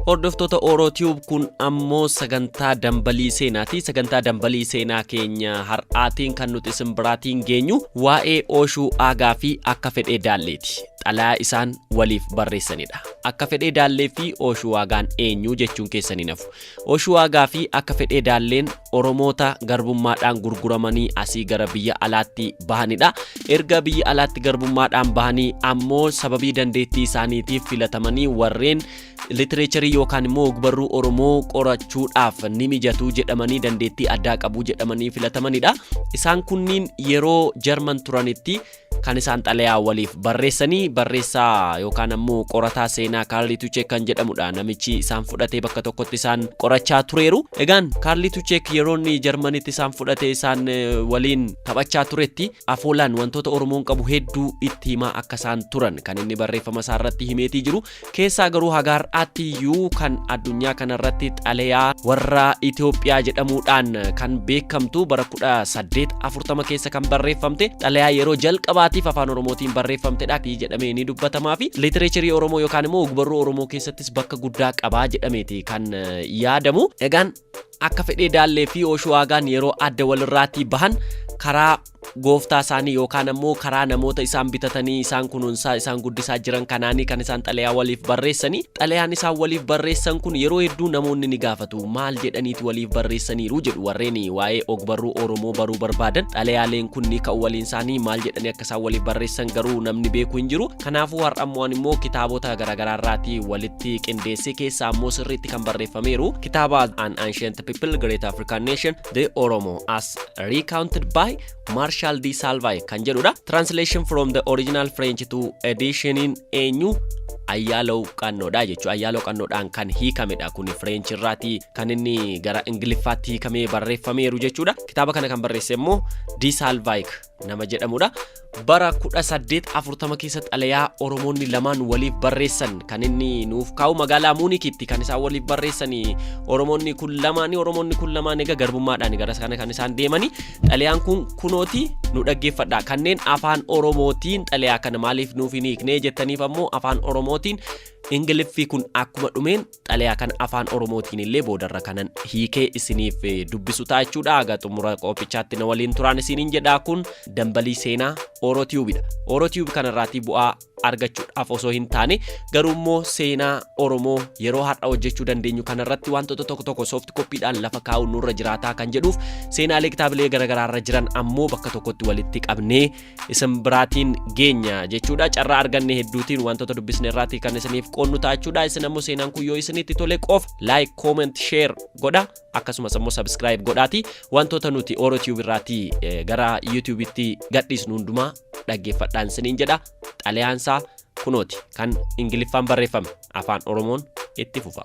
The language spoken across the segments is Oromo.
Hordoftoota Oro Tube kun ammoo sagantaa dambalii seenaati. Sagantaa dambalii seenaa keenya har'aatiin kan nuti isin biraatiin geenyu waa'ee Ooshuu Aagaa fi akka fedhee daalleeti. Xalayaa isaan waliif barreessanidha. Akka fedhee daallee fi Ooshuu Aagaan eenyu jechuun keessan hin hafu. Ooshuu Aagaa fi akka fedhee daalleen Oromoota garbummaadhaan gurguramanii asii gara biyya alaatti bahanidha. Erga biyya alaatti garbummaadhaan bahanii ammoo sababii dandeettii isaaniitiif filatamanii warreen litireecharii yookaan immoo ogbarruu Oromoo qorachuudhaaf ni mijatuu jedhamanii dandeettii addaa qabu jedhamanii filatamanidha. Isaan kunniin yeroo Jarman turanitti kan isaan xalayaa waliif barreessanii barreessaa yookaan ammoo qorataa seenaa Kaarlii Tucheek kan jedhamudha. Namichi isaan fudhatee bakka tokkotti isaan qorachaa tureeru. Egaan Kaarlii Tucheek yeroo inni Jarmanitti isaan fudhatee isaan waliin taphachaa turetti afoolaan wantoota Oromoon qabu hedduu itti himaa akka isaan turan kan inni barreeffama isaa irratti himeetii jiru. keessaa garuu haga har'aatti iyyuu kan addunyaa kanarratti xalayaa warra Itoophiyaa jedhamuudhaan kan beekamtu bara 1840 keessa kan barreeffamte xalayaa yeroo jalqabaatiif afaan Oromootiin barreeffamtedha fi jedhamee ni dubbatamaa fi litireecharii Oromoo yookaan immoo ogbarruu Oromoo keessattis bakka guddaa qabaa jedhameeti kan yaadamu. Egaan Akka fedhee Daallee fi Oshuwaagaan yeroo adda walirraatii bahan karaa gooftaa isaanii yookaan ammoo karaa namoota isaan bitatanii isaan kunuunsaa isaan guddisaa jiran kanaanii kan isaan xalayaa waliif barreessanii xalayaan isaan waliif barreessan kun yeroo hedduu namoonni ni gaafatu maal jedhaniiti waliif barreessaniiru jedhu warreen waa'ee ogbarruu Oromoo baruu barbaadan xalayaaleen kun ni ka'u waliin isaanii maal jedhanii akka akka isaan waliif barreessan garuu namni beeku hin jiru kanaafuu har'a immoo ani immoo kitaabota garaagaraa irraatii walitti qindeessee keessaa immoo sirriitti kan barreeffameeru kitaaba an ancient people great african nation the oromo as recounted by marshal d salvay kan jedhudha translation from the original french to editioniin eenyu ayyaalaw qannoodha jechuu ayyaalaw qannoodhaan kan hiikamedha kun fireench irraati kan inni gara ingiliffaatti hiikamee barreeffameeru jechuudha kitaaba kana kan barreesse immoo d salvayk nama jedhamudha. Bara 1840 keessa xalayaa Oromoonni lamaan waliif barreessan kan inni nuuf kaa'u magaalaa Muunikitti kan isaan waliif barreessanii Oromoonni kun lamaanii Oromoonni kun lamaan egaa garbummaadhaan gara sana kan isaan deemanii xalayaan kun kunooti nu dhaggeeffadha kanneen afaan Oromootiin xalayaa kana maaliif nuuf hin hiiknee jettaniif ammoo afaan Oromootiin Ingiliffii kun akkuma dhumeen xalayaa kana afaan oromootiin illee boodarra kanan hiikee isiniif eh, dubbisu ta'a jechuudha haga xumura qophichaatti na waliin turaan isiniin jedhaa kun dambalii seenaa orotiyuubidha orotiyuub kanarraatii bu'aa argachuudhaaf osoo hin taane garuu immoo seenaa oromoo yeroo har'a hojjechuu dandeenyu kanarratti wantoota tokko tokko soofti koppiidhaan lafa kaa'uun nurra jiraataa kan jedhuuf seenaalee kitaabilee garaagaraarra jiran ammoo bakka tokkotti walitti qabnee isin biraatiin geenya jechuudha carraa arganne hedduutiin wantoota dubbisne irraati kan isiniif qoonnu ta'achuudha isin ammoo seenaan kun yoo isinitti tole qof like comment share godha akkasumas ammoo subscribe godhaati wantoota nuti oro tube irraati eh, gara youtube itti gadhiisnu hundumaa dhaggeeffadhaan isiniin jedha xalayaansaa kunooti kan ingiliffaan barreeffame afaan oromoon itti fufa.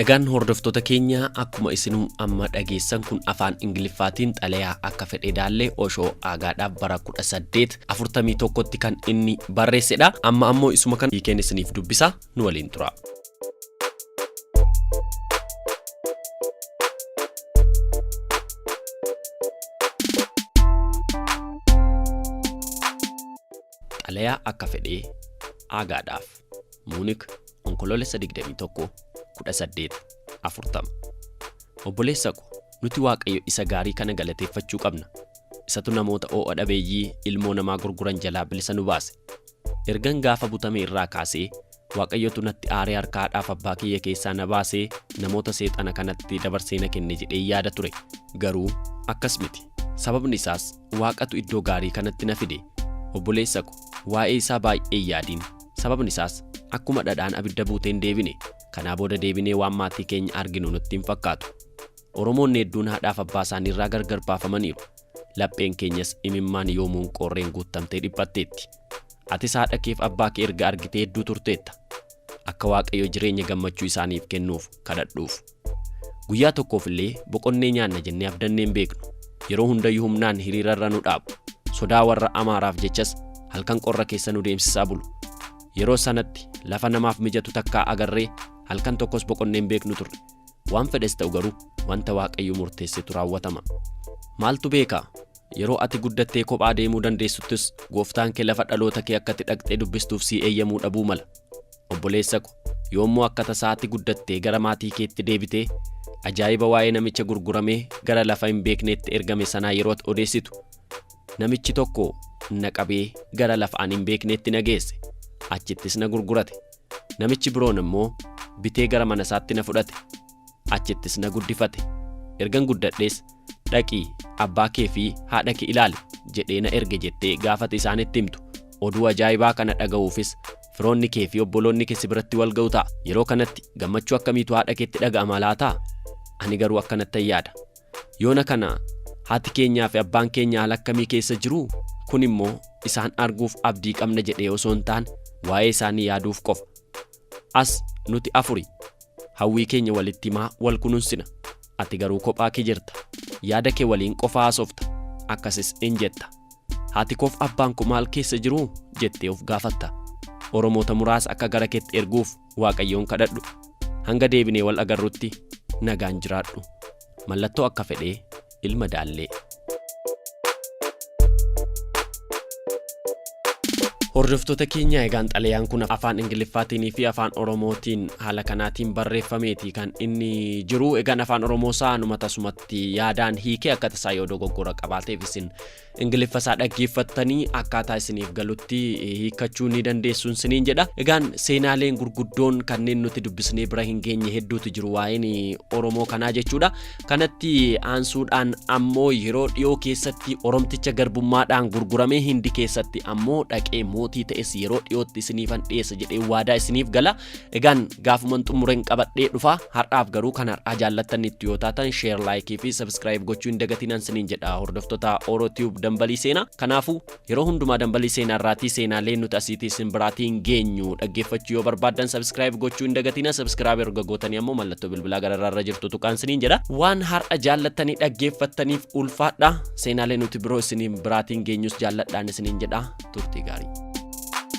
Nagaan hordoftoota keenya akkuma isinuu amma dhageessan kun afaan Ingiliffaatiin xalayaa akka fedhee daallee Oshoo Aagaadhaaf bara 1841tti kan inni barreessedha. Amma ammoo isuma kan hiikeen isiniif dubbisa nu waliin tura. Xalayaa akka fedhee Aagaadhaaf. Muunik, Onkoloolessa 21, 18, 40. Obboleessa ko, nuti Waaqayyo isa gaarii kana galateeffachuu qabna. Isatu namoota oo'a dhabeeyyii ilmoo namaa gurguran jalaa bilisa nu baase. Ergan gaafa butame irraa kaasee, Waaqayyotu natti aaree harka haadhaaf abbaa kiyya keessaa na baasee namoota seexana kanatti dabarsee na kenne jedhee yaada ture. Garuu akkas miti. Sababni isaas Waaqatu iddoo gaarii kanatti na fide. Obboleessa ko, waa'ee isaa baay'ee hin yaadin. Sababni isaas akkuma dhadhaan abidda buutee hin deebine kanaa booda deebinee waan maatii keenya arginu nutti hin fakkaatu. Oromoonni hedduun haadhaaf abbaa isaanii irraa gargar baafamaniiru. Lapheen keenyas imimmaan yoomuun qoorreen guuttamtee dhiphatteetti. Atis haadha keef abbaa kee erga argitee hedduu turteetta. Akka Waaqayyo jireenya gammachuu isaaniif kennuuf kadhadhuuf. Guyyaa tokkoof illee boqonnee nyaanna jennee abdannee hin beeknu. Yeroo hundayyuu humnaan hiriira irra nu dhaabu. Sodaa warra Amaaraaf jechas halkan qorra keessa nu deemsisaa bulu. Yeroo sanatti lafa namaaf mijatu takkaa agarree halkan tokkos boqonnee hin beeknu turre. Waan fedhes ta'u garuu wanta Waaqayyo murteessetu raawwatama. Maaltu beeka? Yeroo ati guddattee kophaa deemuu dandeessuttis gooftaan kee lafa dhaloota kee akka itti dhaqxee dubbistuuf sii eeyyamuu dhabuu mala. Obboleessa ko, yoommoo akka tasaa ati guddattee gara maatii keetti deebite, ajaa'iba waa'ee namicha gurguramee gara lafa hin beekneetti ergame sanaa yeroo ati odeessitu, Namichi tokko na qabee gara lafa ani hin beekneetti na geesse, achittis na gurgurate. Namichi biroon immoo bitee gara manasaatti na fudhate. achittis na guddifate. Ergan guddadhees dhaqii abbaa kee fi haadha kee ilaali jedhee na erge jettee gaafate isaanitti himtu. Oduu ajaa'ibaa kana dhaga'uufis firoonni kee fi obboloonni kee si biratti wal ga'u ta'a. Yeroo kanatti gammachuu akkamiitu haadha keetti dhaga'ama laataa? Ani garuu akkanattan yaada. Yoona kana haati keenyaa fi abbaan keenya haala akkamii keessa jiru? Kun immoo isaan arguuf abdii qabna jedhee osoo hin taane waa'ee isaanii yaaduuf qofa. As nuti afuri Hawwii keenya walitti himaa wal kununsina. Ati garuu kophaa kee jirta. Yaada kee waliin qofa haasofta. Akkasis in jetta. Haati koof abbaan koo maal keessa jiruu? jettee of gaafatta. Oromoota muraasa akka gara keetti erguuf Waaqayyoon kadhadhu. Hanga deebinee wal agarrutti nagaan jiraadhu. Mallattoo akka fedhee. ilma daallee. Hordoftoota keenya egaan xalayaan kun afaan Ingiliffaatiin fi afaan Oromootiin haala kanaatiin barreeffameeti kan inni jiru. Egaan afaan Oromoo isaa numa tasumatti yaadaan hiikee akka tasaa yoo dogoggora qabaateef isin Ingiliffa isaa dhaggeeffattanii akkaataa isiniif galutti hiikkachuu ni dandeessuun siniin jedha. Egaan seenaaleen gurguddoon kanneen nuti dubbisnee bira hin geenye hedduutu jiru waa'een Oromoo kanaa jechuudha. Kanatti aansuudhaan ammoo yeroo dhiyoo keessatti Oromticha garbummaadhaan gurguramee Hindi keessatti ammoo dhaqee mootii ta'es yeroo dhiyootti isiniifan dhiyeessa jedhee waadaa isiniif gala. Egaan gaafuman xumuren qabadhee dhufa har'aaf garuu kan har'aa jaallattanittu yoo taatan share like fi subscribe gochuu hin dagatinan siniin jedha hordoftoota Oro Tube dambalii seenaa kanaafu yeroo hundumaa dambalii seenaa irraatii seenaalee nuti asiitii isin biraatiin geenyu dhaggeeffachuu yoo barbaaddan subscribe gochuu hin dagatina subscribe erga gootanii ammoo mallattoo bilbilaa gararraa irra jirtu tuqaan siniin jedha waan har'a jaallattanii dhaggeeffattaniif ulfaadha seenaalee nuti biroo isiniin biraatiin geenyus jaalladhaan isiniin jedha turtii gaarii.